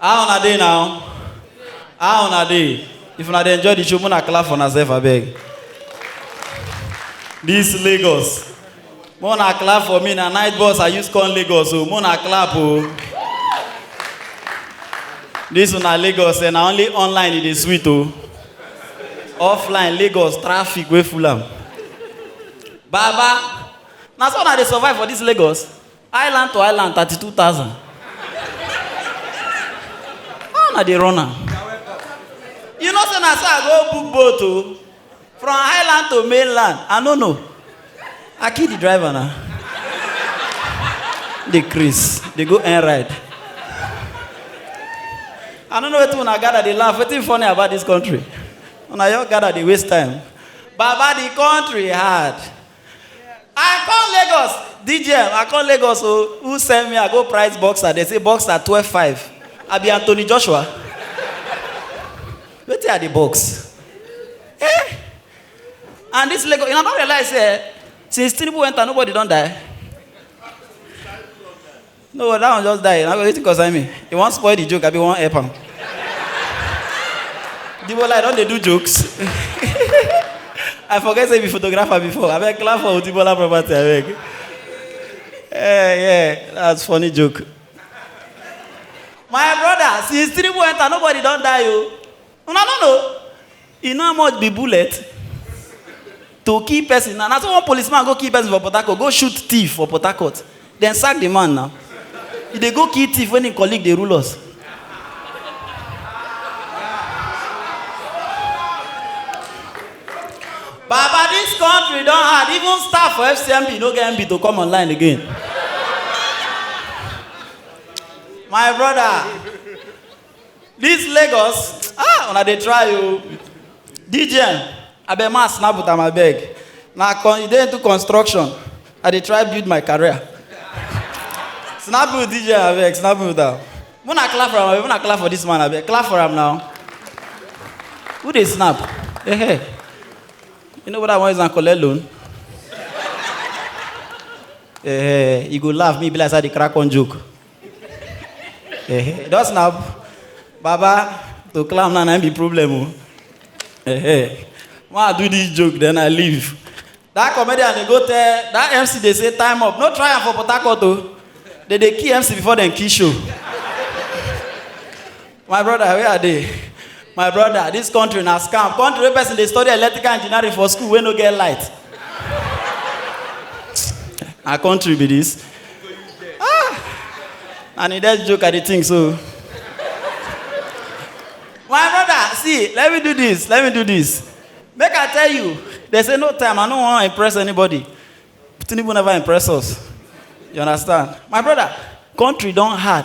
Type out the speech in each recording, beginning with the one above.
How una dey now? How una dey? If una dey enjoy the show, una clap for unasef abeg. This Lagos. Mona clap for me na night bus I use come Lagos o. Mona clap o. This una Lagos eh, na only online e dey sweet o. Offline Lagos traffic wey full am. Baba, na so una dey survive for this Lagos? Island to island, 32,000. How na dey run am? You know say na so I go book boat o. From island to mainland, I no know. I kill the driver na. Dey craze, dey go end ride. I no know wetin una gather dey laugh, wetin funny about dis country? Una just gather dey waste time. Baba the country hard. I come Lagos. DJ, I come Lagos. Oh, who send me? I go price boxer. They say boxer 12 5. I be Anthony Joshua. Wait till I the box. Eh? And this Lagos, you know, I don't realize, eh, since Tinubu went, nobody don't die. No, but that one just die. Now wetin concern me? You wan spoil the joke, I be wan help am. The bola, I don dey do jokes. I forget say you be photographer before. Abeg clap for Otibola property, abeg. Eh, yeah, that's funny joke. My brother, since Tinubu enter, nobody don die o. una no know you know how much be bullet to kill person na na so one policeman go kill person for port harcourt go shoot thief for port harcourt dem sack the man now he dey go kill thief when him colleague dey rule us baba dis country don hard even staff for fcmb no get mb to come online again my brother This Lagos, ah, una dey try o. DJ, abeg ma snap with am abeg. Na con, you dey into construction. I dey try build my career. snap with DJ abeg, snap with am. Muna clap for am abeg, muna clap for this man abeg. Clap for am now. Who dey snap? Hey, hey. You know what I want is an collect loan? Eh, you go laugh me be like say I dey crack one joke. Eh, just na baba to climb na na im be problem o. Eh, when I do this joke then I leave. That comedian dey go tell that MC dey say time up no try am for Port Harcourt o. They dey kill MC before dem kill show. my brother where i dey my brother dis country na scam country wey person dey study electrical engineering for school wey no get light na country be dis ah na the dead joke i dey think so my brother see let me do dis let me do dis make i tell you dey say no time i no wan impress anybody tinubu never impress us you understand my brother country don hard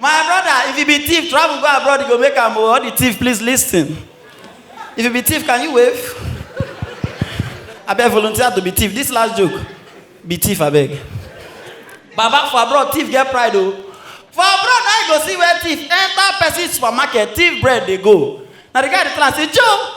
My brother, if you be thief, travel go abroad, you go make am o. All the thief, please listen. If you be thief, can you wave? Abeg volunteer to be thief. This last joke. Be thief, abeg. Baba for abroad, thief get pride o. For abroad, na you go see where thief enter person supermarket, thief bread dey go. Na the guy dey tell am say, Joe,